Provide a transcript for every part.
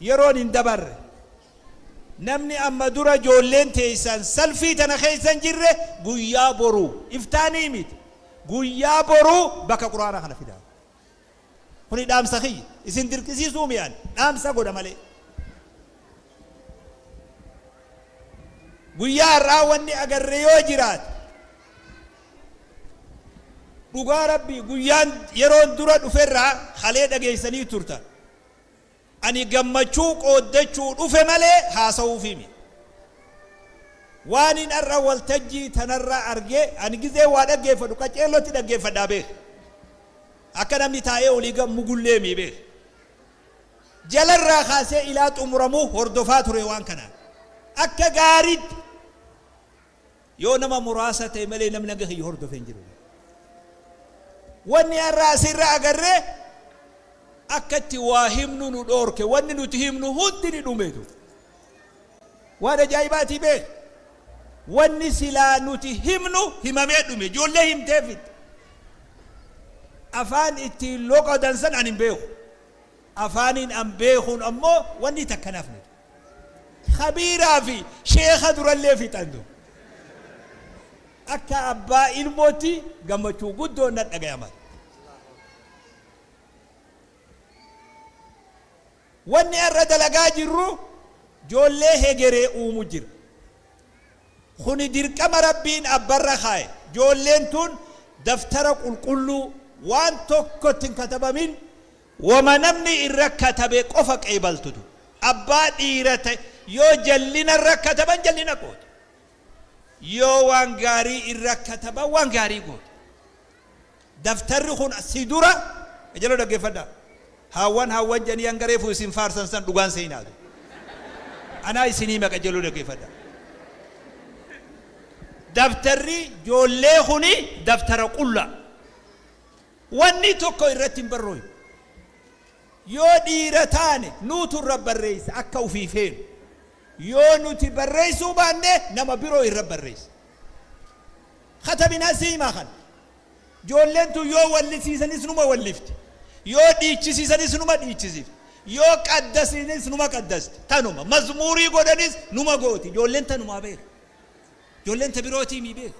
Yeroon hin dabarre. Namni amma dura ijoolleen teessan salfii tana keessa hin jirre guyyaa boruu, iftaanii miti, guyyaa boruu bakka Qur'aana kana fidaa. Kuni dhaamsa kiyya. Isin dirqisiisuu mi ani? Dhaamsa godha malee. Guyyaa har'aa wanni agarre yoo jiraate Dhugaa rabbii guyyaan yeroon dura dhuferraa kalee dhageessanii turtan ani gammachuu qooddachuu dhufe malee haasa'uufii miti. Waanin har'a waltajjii tanarraa arge ani gizee waa dhaggeeffadhu qaceellotti dhaggeeffadhaa beeki. Akka namni taa'ee olii gad mugullee mii beeki. Jalarraa kaasee ilaa xumuramuu hordofaa ture waan kanaan akka gaariitti. Yoo nama muraasa ta'e malee namni hanga kiyya hordofe hin jiru. Wanni har'a asirra agarre akka itti waa himnu nu dhoorke. Wanni nuti himnu hundi ni dhume tu. Waan ajaa'ibaatii beek. Wanni silaa nuti himnu himamee dhume. Ijoollee himtee fixxe. Afaan ittiin loqodan san ani hin beeku. Afaaniin an beekuun ammoo wanni takka hin hafne tu. Kabiiraa fi sheekha durallee fixan du. Akka abbaa ilmootti gammachuu guddoon na dhagayama. Wanni har'a dalagaa jirru joollee hegeree uumu jira. Kuni dirqama Rabbiin abbarra kaaye. Joolleen tun daftara qulqulluu waan tokkotti hin katabamin Woma namni irra katabe qofa qeebaltu du. Abbaa dhiira ta'e yoo jallina irra kataban jallina goota. Yoo waan gaarii irra kataban waan gaarii goota. Daftarri kun si dura qajeloo dhaggeffadhaa. Haawwan haawwan jedhanii hanga reefu isin faarsan san dhugaan seenaa du. Anaa isin hima qajeloo dhaggeffadhaa. Daftarri joollee kuni daftara qullaa. Wanni tokko irratti hin barrooynu. Yoo dhiira taane nuutu irra barreessa akka ufii feenu. Yoo nuti barreessuu baanne nama biroo irra barreessa. Katabinaa siimaa kana. Joolleen tun yoo wallisiisanis numa wallifti. Yoo dhiichisiisanis numa dhiichisifti. Yoo qaddasiinis numa qaddasti. Tanuma. Mazmuurii godhanis numa gooti. Joolleen tanumaa beeka. Joolleen ta birootii mii beeka.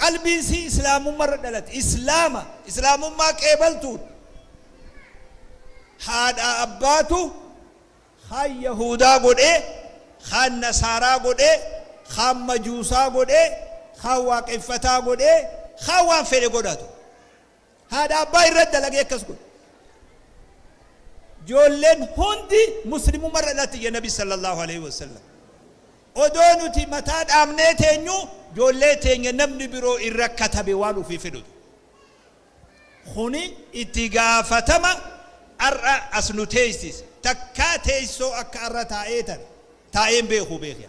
Qalbiin isii Islaamumma irra dhalate. Islaama, Islaamummaa qeebaltuun. Haadhaa abbaatu kaan Yahuudaa godhee, kaan Nasaaraa godhee, kaan Majuusaa godhee, kaan Waaqeffataa godhee, kaan waan fedhe godhatu. Haadha abbaa irra dalagee akkas godhe. Ijoolleen hundi muslimumma irra dhalatti jedhe nabi sallallahu aleyhi wasallam. Odoo nuti mataa dhaabnee teenyu ijoollee teenya namni biroo irra katabe waan ofii fedhutu. Kuni itti gaafatama ar'a as nu teessise. Takkaa teessoo akka arra taa'ee tan taa'een beeku beekya.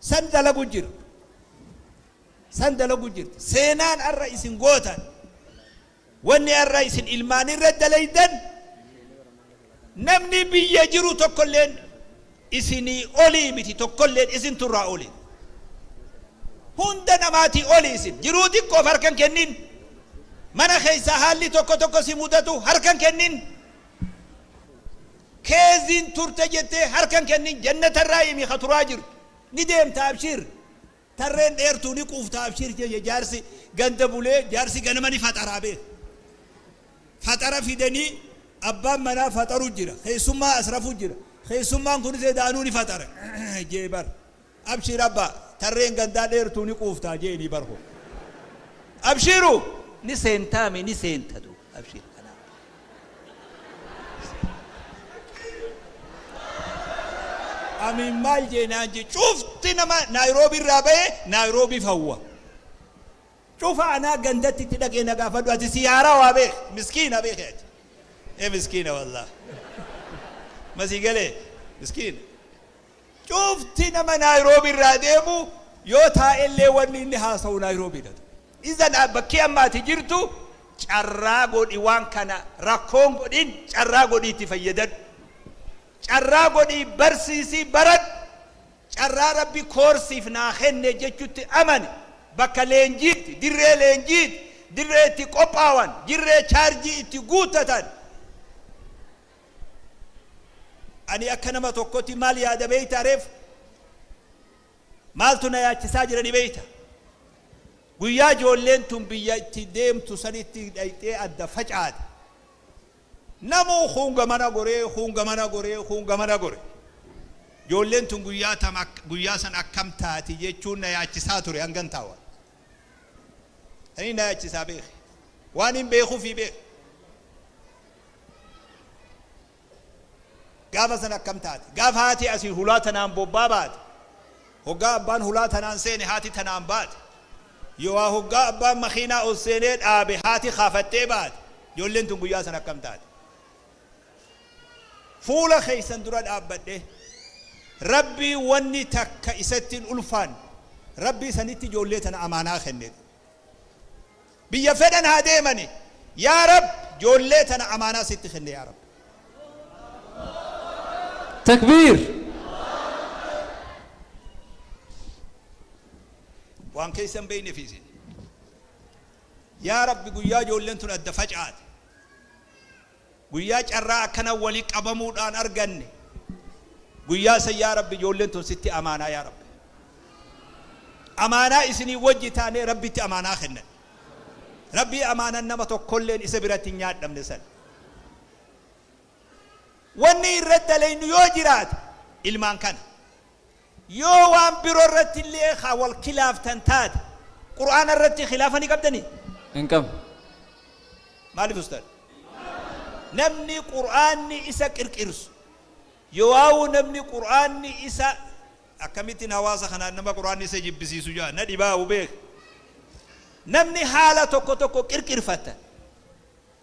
San dalagu jirtu. San dalagu jirti. Seenaan ar'a isin gootan, wanni ar'a isin ilmaan irra dalaydan, namni biyya jiru tokkolleen isinii olii miti, tokkolleen isintu irraa oli. Hunda namaatii oli isin. Jiruu xiqqoof harka hin kennin. Mana keessaa haalli tokko tokko si mudatu harka hin kennin. Keezin turte jettee harka hin kennin jannata irraa himi ka turaa jirtu. Ni deemta abshiir. Tarreen dheertuu ni quufta abshiir jeje jaarsi ganda bulee jaarsi ganama ni faxaraa beek. Faxara fidanii abbaan manaa faxaru jira keessummaa as rafu jira keessummaan kunis edaanuu ni faxara je'e bar. Abshiir abbaa! Tarreen gandaa dheertuu ni quuftaa jeeni bar hoo! Abshiiru! Ni seentaa mee ni seenta du abshiir kanaa bar! Ni seenta. Amiin maal jeenaan ji cufti nama Naayiroobi irraa bahee Naayiroobiif hawwa. Cufa anaa gandatti itti dhaqee na gaafadhu ati sii haarawaa bee miskiina beeki ati. Ee miskiina wallaah. Masii galee miskiina. Cufti nama Naayiroobii irraa deemu yoo taa'e illee wanni inni haasawu Naayiroobii dha ture. Izan bakki amma ati jirtu carraa godhi waan kana rakkoo hin godhin carraa godhii itti fayyadadhu. Carraa godhii barsiisii baradhu. Carraa Rabbi koor siif naa kenne jechutti amani. Bakka leenjiitti, dirree leenjiiti, dirree itti qophaawan, dirree chaarjii itti guuttatan. Ani akka nama tokkoti maal yaada beektaa reef? Maaltu na yaachisaa jira ni beekta? Guyyaa ijoolleen tun biyya itti deemtu sanitti dhayxee adda facaate. Namuu kuun gamana goree, kuun gamana goree, kuun gamana gore. Ijoolleen tun guyyaa tam ak- guyyaa san akkam taati jechuun na yaachisaa ture hangan taawa. Ani na yaachisaa beeki. Waan hin beekuufi beeki. Gaafa san akkam taate? Gaafa haati Asiin hulaa tanaan bobbaa baate, hoggaa abbaan hulaa tanaan seene haati tanaan baate, yoohaa hoggaa abbaan makiinaa ol seenee dhaabe haati kaafattee baate, ijoolleen tun guyyaa san akkam taate? Fuula keessan dura dhaabbadhee, Rabbii wanni takka isatti hin ulfaanne, Rabbii sanitti ijoollee tana amaanaa kenne. Biyya fedhan haa deemani yaa rab joollee tana amaanaa sitti kenne yaa rab. Takbiir. Waan keessa hin beeynefi isin. Yaa rabbi guyyaa joolleen tun adda facaate. Guyyaa carraa akkana wali qabamuudhaan arganne guyyaa san yaa rabbi ijoolleen tun sitti amaanaa yaa rabbi amaanaa isinii wajji taanee rabbitti amaanaa kennan rabbii amaanan nama tokkolleen isa biratti hin nyaadhamne san wanni irra dalaynu yoo jiraate ilmaan kana Yoo waan biro irratti illee ka wal kilaaftan taate, Qur'aana irratti kilaafa ni qabdanii? Hin qabnu. Maalif ustaad? Namni Qur'aanni isa qirqirsu yowaawuu namni Qur'aanni isa akkamittin hawaasa kanaan nama Qur'aanni isa jibbisiisu ja'a na dhibaa'u beeke namni haala tokko tokko qirqirfattan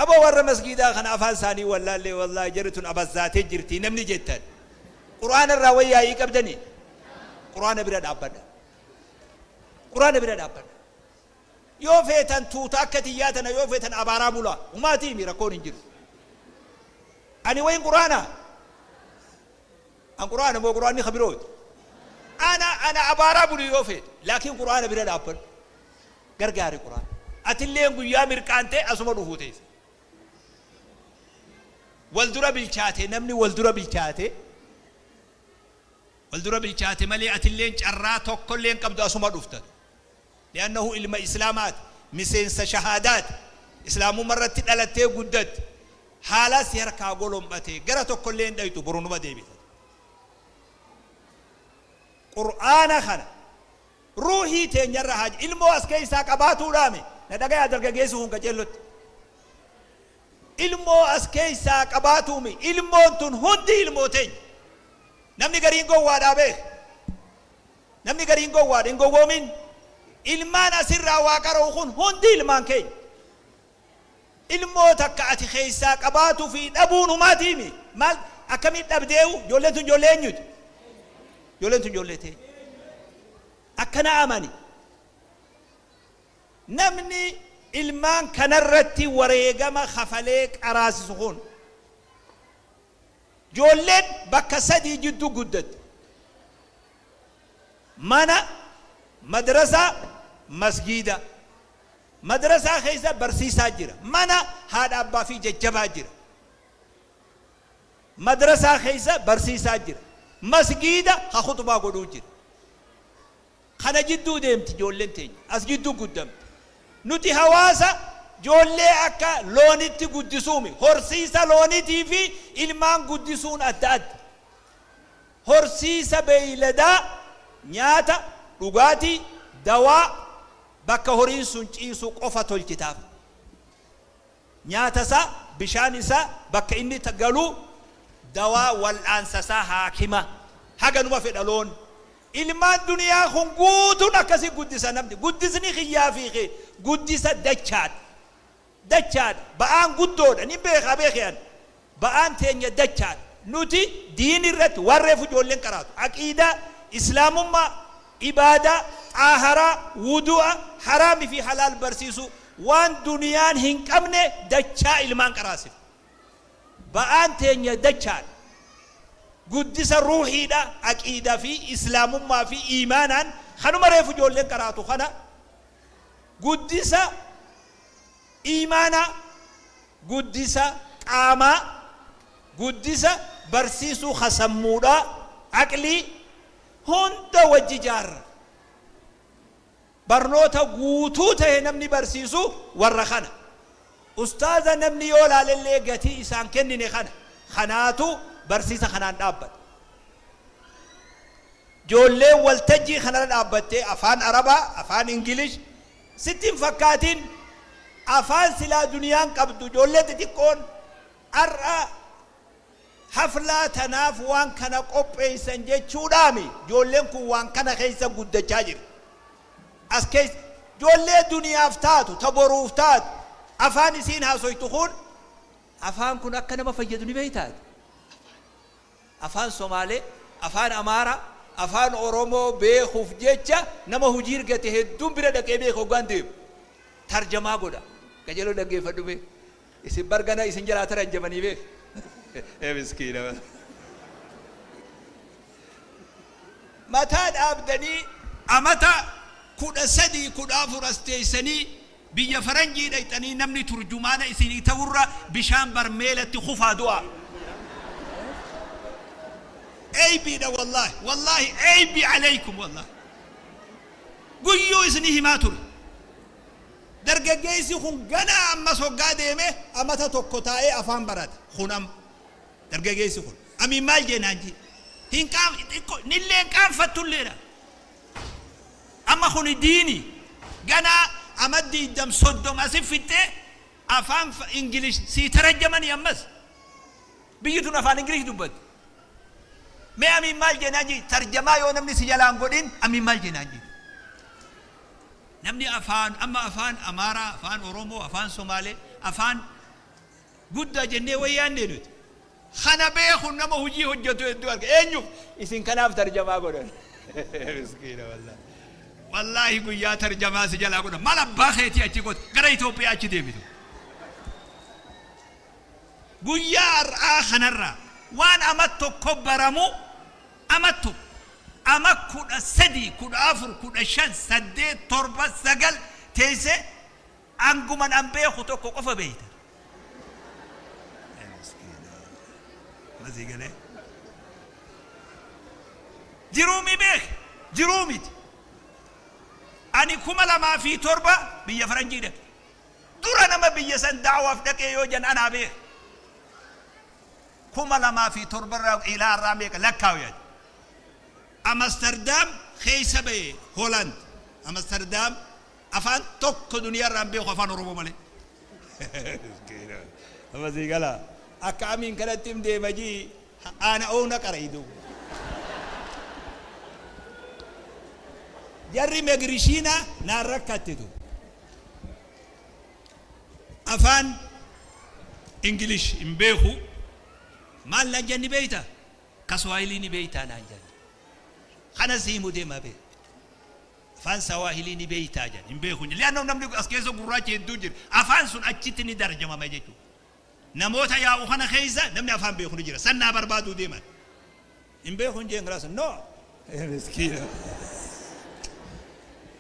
Abo warra masgiidaa kana afaan isaanii wallaallee wallahi jarri tun abazzaatee jirtii namni jettan qur'aana irraa wayyaa'ii qabdanii qur'aana bira dhaabbadha qur'aana bira dhaabbadha yoo feetan tuuta akka tiyyaa tana yoo feetan abaaraa bulaa humaatii himi rakkoon hin jiru ani wayin qur'aana An qur'aana moo qur'aanni ka birooti? Ana ana abaaraa buli yoo feete. Laakiin qur'aana bira dhaabbadhu. Gargaari qur'aana. Atilleen guyyaa mirqaantee asuma dhufuu teessa. Wal dura bilchaate namni wal dura bilchaate wal dura bilchaate malee atilleen carraa tokkollee hin qabdu asuma dhufta. Li'annahu ilma Islaamaati, miseensa shahaadaati, Islaamumma irratti dhalattee guddatte, haalaa si harkaa golom'ate, gara tokkollee hin dhayxu, boru numa deebita. Qur'aana kana ruuhii teenya irra haa Ilmoo as keessaa qabaatuudhaami? Na dhagayaa dargageessi kun qaceellotti. Ilmoo as keessaa qabaatuumi? Ilmoon tun hundi ilmoo teenya. Namni gariin gowwaadhaa beeki. Namni gariin gowwaadha, hin gowwoomin. Ilmaan as irraa waa qara'u kun hundi ilmaan keenya. Ilmoo takka ati keessaa qabaatu fi dhabuun humaa tiimi. Maal akkamiin dhabdeehu ijoolleen tun ijoollee eenyuti? Ijoolleen tun ijoollee teenya. Akkana amani. Namni ilmaan kanarratti wareegama kafalee qaraasisu kun Ijoolleen bakka sadii jidduu guddatti. Mana, madrasaa, masgiida. Madrasaa keessa barsiisaa jira. Mana haadha abbaa fi jajjabaa jira. Madrasaa keessa barsiisaa jira. Masgiida ka khuxbaa godhuu jira. Kana jidduu deemti ijoolleen teenya. As jidduu guddamti. Nuti hawaasa ijoollee akka loonitti guddisuu mi. Horsiisa loonitii fi ilmaan guddisuun adda adda. Horsiisa beeyladaa nyaata, dhugaatii, dawaa, bakka horiin sun ciisu qofa tolchitaaf. Nyaata isaa, bishaan isaa, bakka inni galu, dawaa wal'aansa isaa, haakima. Haganuma fedha loon. Ilmaan duniyaa kun guutuun akkasii guddisa namni. Guddisni kiyyaa fi kee guddisa dachaadha. Dachaadha. Ba'aan guddoodha. Nin beekaa beekhe ani. Ba'aan teenya dachaadha. Nuti diin irratti waan reefu ijoolleen qaraatu, aqiidaa, Islaamummaa, ibaadaa, xaaharaa, wuduu'a, haraam fi halaal barsiisuu, waan duniyaan hin qabne dachaa ilmaan qaraasifna. Ba'aan teenya dachaadha. Guddisa ruuhiidha, aqiidaa fi Islaamummaa fi iimaanaan kanuma reefu ijoolleen qaraatu kana guddisa. Iimaana, guddisa qaamaa, guddisa barsiisuu ka sammuudhaa, aqlii, hunda wajji ijaarra. Barnoota guutuu tahe namni barsiisu warra kana. Ustaaza namni yoo laalellee gatii isaan kennine kana. Kanaatu barsiisa kanaan dhaabbata. Ijoolleen waltajjii kanarra dhaabbattee afaan Arabaa, afaan English, Sitti hin fakkaatin afaan silaa duniyaan qabdu ijoollee xixiqqoon har'a haflaa tanaaf waan kana qopheessan jechuudhaami ijoolleen kun waan kana keessa guddachaa jirti as keessa ijoollee duniyaaf taatu ta boruuf taatu afaan isiin haasoytu kun afaan kun akka nama fayyadu ni beeytaati Afaan Somaalee, Afaan Amaaraa, Afaan Oromoo beekuuf jecha nama hojii irgate hedduun bira dhaqee beeka hoggaan deemu. Tarjamaa godha. Qajeeloo dhaggeeffadhu mee. Isin bar gana isin jalaa taranjamanii beek. Ee miskiina. Mataa dhaabdanii amata 13, 14 as teessanii Biyya faranjii dhayxanii namni turjumaana isinii ta'urra bishaan barmeelatti kufaa du'aa. Eybiidha wallahi wallahi eybi aleykum wallahi. Guyyuu isni himaa ture. Dargaggeessi kun ganaa ammas hoggaa deeme amata tokko taa'ee afaan barate. Kun amma. Dargaggeessi kun. Amiin maal jee naan jee. Hin qaanf xiqqo nilleen qaanfattulleedha. Amma kuni diini gana ama digdam soddom asi fixxee afaan English sii tarajamani ammas biyyi tun afaan English dubbatti mee amiin maal jeenaan jii tarjamaa yoo namni si jalaan godhin amiin maal jeenaan jii namni afaan amma afaan Amaaraa afaan Oromoo afaan Somaalee afaan guddaa jennee waan yaannee nuti. Kana beekun nama hojii hojjetu hedduu arga. Eenyuuf? Isin kanaaf tarjamaa godhan. Miskiina wallaahi. Wallaahi guyyaa tarjamaa si jalaa godhan. Maal abbaa keetii achi goota? Gara Itoophiyaa achi deebitu. Guyyaa har'aa kanarraa waan ama tokko baramu ama tokko ama kudha sadii kudha afur kudha shan saddeet torba sagal teessee Anguman an beeku tokko qofa beeyta. Amma sii galee? Jiruu mii beeke? Jiruu miti. Ani kuma lamaa fi torba biyya faranjii dhaqe. Dura nama biyya san da'awaaf dhaqee yoo jan anaa beeka. Kuma lamaa fi torba irraa ilaa irraa meeqa lakkaawu yaada. Amsterdam keessa ba'e Holland. Amsterdam afaan tokko duniyaa irraa hin beeku afaan oromoo malee amma sii gala akka amiin kanatti hin deema jii aana oona qaraydu jarri megrishiina naan rakkattitu afaan ingilish hin beeku maal naan jenni beeyta kaswaayilii ni beeytaa naan jenni kana sii mudee ma beekta Afaan Sawaahilii ni beektaa? jedhan. Hin beeku jedhe. Li'aannahu namni as keessa gurraachi hedduun jira. Afaan sun achitti ni tarjamama jechuudha. Namoota yaa'u kana keessa namni afaan beeku ni jira. San naa barbaaduu deeman. Hin beeku hin jeen kalaas. No! Miskiina.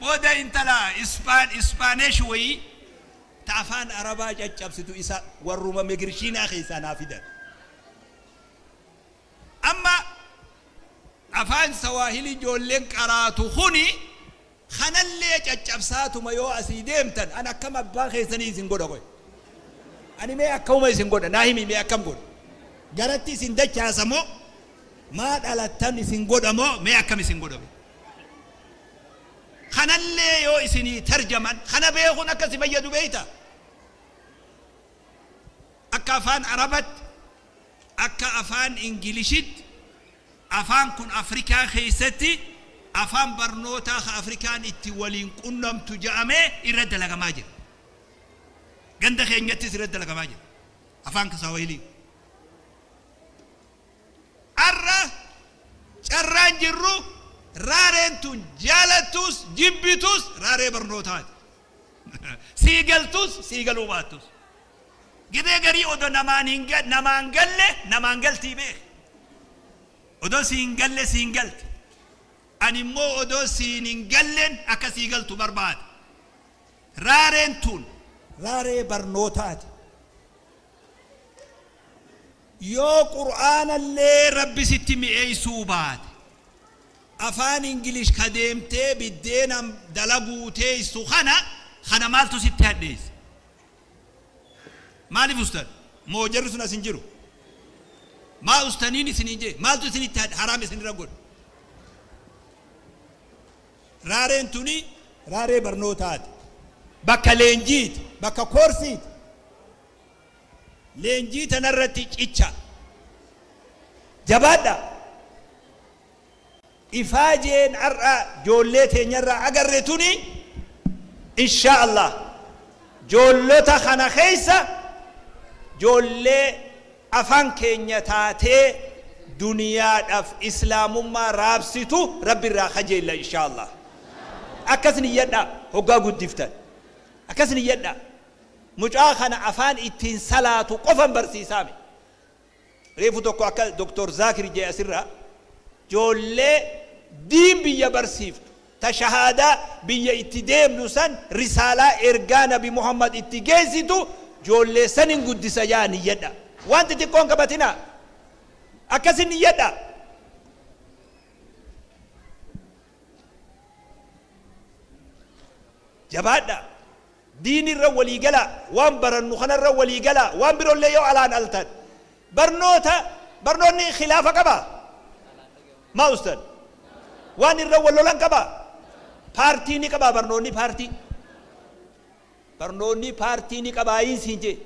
Booda intala Ispaan, Ispaanesh wayii ta afaan Arabaa caccabsitu isa warruma Megirshiinaa keessaa naa fidan. Amma Afaan Sawaahilii ijoolleen qaraatu kuni kanallee caccabsaatuma yoo asii deemtan an akkam abbaa keessanii isin godha qoy? Ani mee akkamuma isin godha naa himi mee akkam godhu? Garatti isin dachaasa moo maa dhalattan isin godha moo mee akkam isin godha mee? Kanallee yoo isinii tarjaman kana beekun akka si fayyadu beektaa? Akka Afaan Arabatti Akka afaan Ingilishitti afaan kun Afrikaa keessatti afaan barnootaa ka Afrikaan itti waliin qunnamtu ja'amee irra dalagamaa jira. Ganda keenyattis irra dalagamaa jira. Afaan Kisawahilii. Arra carraan jirru raareen tun jaalattuus jibbituus raaree barnootaati. Sii galtuus sii galuu baattuus. Gibee garii odo namaan hin namaan galle namaan galtii beeki odo siin galle siin galti ani immoo odo siin hin gallen akka sii galtu barbaada raareen tun raaree barnootaati yoo qur'aanallee rabbi sitti mi'eessuu baate afaan ingilish ka deemtee biddeenan dalaguu teessu kana kana maaltu sitti hadheesse Maalif ustan? Moo jarri sun as hin jiru? Maa ustaniin isiniin jee? Maaltu isinitti had- haraam isinirra godhe? Raareen tuni raaree barnootaati. Bakka leenjiiti. Bakka koorsiiti. Leenjii tanarratti cicha. Jabaadha. Ifaajeen har'a joollee teenyarraa agarre tuni inshaa allaah joollota kana keessa joollee afaan keenya taatee duniyaadhaaf islaamummaa raabsitu rabbi irraa kajeella inshaa allaah. Akkas niyyadhaa hoggaa guddiftan. Akkas niyyadhaa. Mucaa kana afaan ittiin salaatu qofan barsiisaame. Reefu tokko akka Doktar Zaakir jee asirraa joollee diin biyya barsiiftu ta shahaadaa biyya itti deemnu san risaalaa ergaa nabi Muhammad itti geessitu joollee sanin guddisa jaa niyyadha waan xixiqqoo hin qabatinaa akkasin niyyadha. Jabaadhaa! Diini irra walii galaa! Waan barannu kana irra walii galaa! Waan biro illee yoo alaan altan barnoota barnoonni khilaafa qabaa? Maa ustad? Waan irra wal lolan qabaa? Paartii ni qabaa barnoonni paartii? Barnoonnii paartii ni qabaayiin siin jee?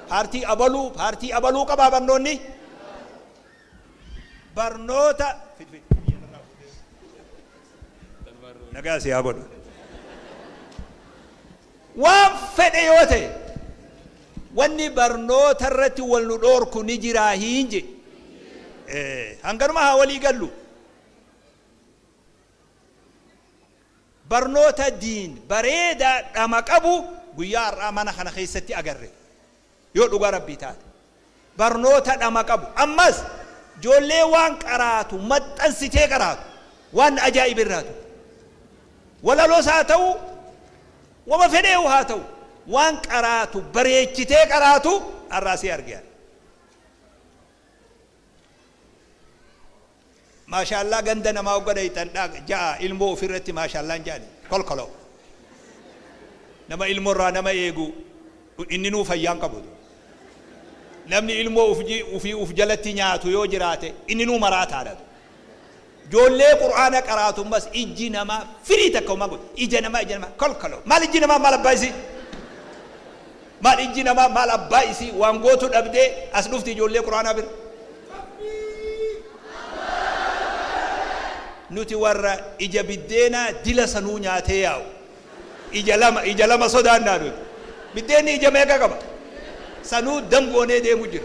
Paartii abaluu paartii abaluu qabaa barnoonnii? Barnoota fidi fidi biyya narraa fuudhee nagaa si haa godhu. Waan fedhe yoo ta'e wanni barnoota irratti wal nu dhoorku ni jiraa hiin jee? Ee hanganuma haa walii gallu. Barnoota Diin bareedaa dhama qabu guyyaa har'aa mana kana keessatti agarre. Yoo dhugaa Rabbii taate. Barnoota dhama qabu. Ammas ijoollee waan qaraatu maxxansitee qaraatu. Waan ajaa'iba irraa ture. Walaloos haa ta'u, wama fedheehu haa ta'u, waan qaraatu bareechitee qaraatu har'aa si arge ani. Maashaallaa ganda namaa hogga dhayxan dha ja'a ilmoo ufi irratti maashaallaan ja'ani kolkoloo nama ilmo irraa nama eegu inninuu fayyaan qabu namni ilmoo ufii uf jalatti nyaatu yoo jiraate inninuu maraataadha Joollee qur'aana qaraatu mas ijji namaa firii takka homaa godhu ija namaa ija namaa kolkolo maal ijji namaa maal abbaa isii maal ijji namaa maal abbaa isii waan gootu dhabdee as dhufti ijoollee qur'aanaa bira nuti warra ija biddeenaa dila sanuu nyaatee yaa'u ija lama ija lama sodaannaa nuti biddeenni ija meeqa qaba sanuu damgoonee deemu jira